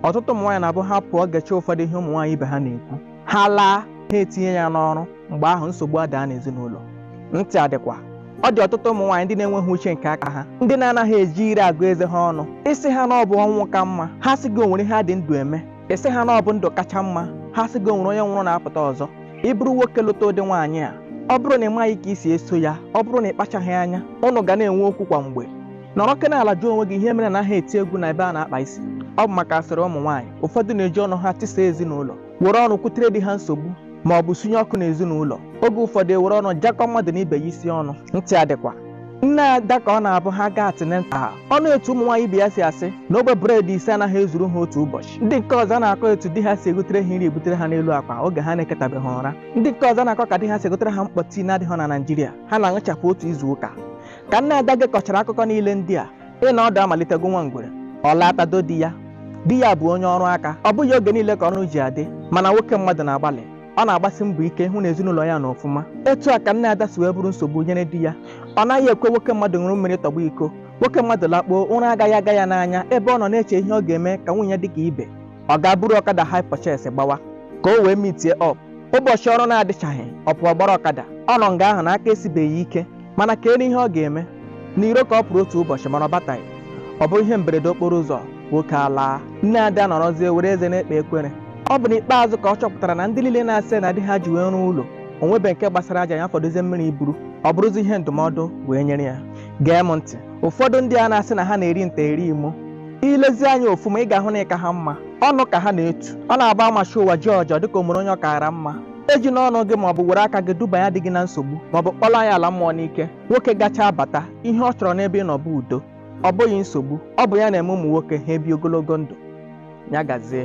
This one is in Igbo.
ọtụtụ ụmụ nwaanyị na-abụ ha pụọ gechaa ụfọdụ ihe ụmụ nwaanyị ibe ha na-ekwu ha laa ha etinye ya n'ọrụ mgbe ahụ nsogbu adaa n'ezinụlọ ntị adịkwa ọ dị ọtụtụ ụmụ nwaanyị ndị na-enweghị uche nke aka ha ndị na-anaghị eji ire agụ eze ha ọnụ ị sị ha na ọ bụ ọnwụ ka mma ha sị gị o nwere ihe a dị ndụ eme ị sị ha na ọ bụ ndụ kacha mma ha sị gị o nwere onye nwụrụ na-apụta ọzọ ị bụrụ nwoke lụta ụdị nwaanyị a ọ bụrụ na ị maghị ka i si eso ya ọ bụrụ na ị kpachaghị anya unu ga na-enwe okwu kwa mgbe nọrọkene ala jụọ onwe gị ihe mere a naghị eti egwu na ebe a na-akpa isi ọ bụ maka asịrị ụmụ nwaanyị ụfọdụ na-eji ọnụ ha tisa ezinụlọ were ọnụ kwutere di ha nsogbu ma ọ bụ sunye ọkụ n'ezinụlọ oge ụfọdụ e were ọnụ jakọ mmadụ na ibe ya isi ọnụ ntị adịkwa nne ada ka ọ na-abụ ha gaa tinye ntị ọ nụ etu ụmụ nwaanyị ibe ya si asị na ogbe bred ise anaghị ezuru ha otu ụbọchị ndị nke ọzọ na-akọ etu di ha si egotere ha nri ebutere ha n'elu akwa oge ha na-eketabeghị ụra ndị nke ọzọ na-akọ ka di ha si egotere ha mkpọ tii na-adịghị na Naịjirịa ha na-aṅụchapụ otu izu ụka ka nne ada gekọchara akụkọ niile ndị a ịnọ ọdụ amalite gụwa ngwere ọ laa tado di ya di ya bụ onye ọrụ aka ọ bụghị oge niile ka ọrụ ji adị mana nwoke mmadụ na-agbalị ọ na-agbasi mbọ ike ịhụ na ezinụlọ ya nọ ọfụma etu a ka nne ada si wee bụrụ nsogbu nyere di ya ọ naghị ekwe nwoke mmadụ ṅụrụ mmiri tọgbọ iko nwoke mmadụ lakpuo ụra agaghị aga ya n'anya ebe ọ nọ na-eche ihe ọ ga-eme ka nwunye dị ka ibe ọ gaa buru ọkada hire purchase gbawa ka o wee meetie up ụbọchị ọrụ na-adịchaghị ọ pụọ gbara ọkada ọ nọ nga ahụ na aka esibeghị ike mana kedụ ihe ọ ga-eme n'iro ka ọ pụrụ otu ụbọchị mana ọ bataghị ọ bụrụ ihe mberede okporo ụzọ nwoke alaa nne ada anọrọzie were eze na-ekpe ekwere ọ bụ n'ikpeazụ ka ọ chọpụtara na ndị niile na-asị na di ha ji wee rụọ ụlọ o nwebe nke gbasara aja ya fọdụzie mmiri iburu ọ bụrụzi ihe ndụmọdụ wee nyere ya gee m ntị ụfọdụ ndị a na-asị na ha na-eri nta eri imo i lezie anya ọfụma ị ga-ahụ na ị ka ha mma ọnụ ka ha na-etu ọ na-abụ a machie ụwa jiọjị ọ dịka o nwere onye ọ kaara mma ejina ọnụ gị maọbụ were aka gị dubanye di gị na nsogbu maọbụ kpọlaa ya ala mmụọ n'ike nwoke gachaa bata ihe ọ chọrọ n'ebe ị nọ bụ udo ọ bụghị nsogbu ọ bụ ya na-eme ụmụ nwoke ha ebi ogologo ndụ ya gazie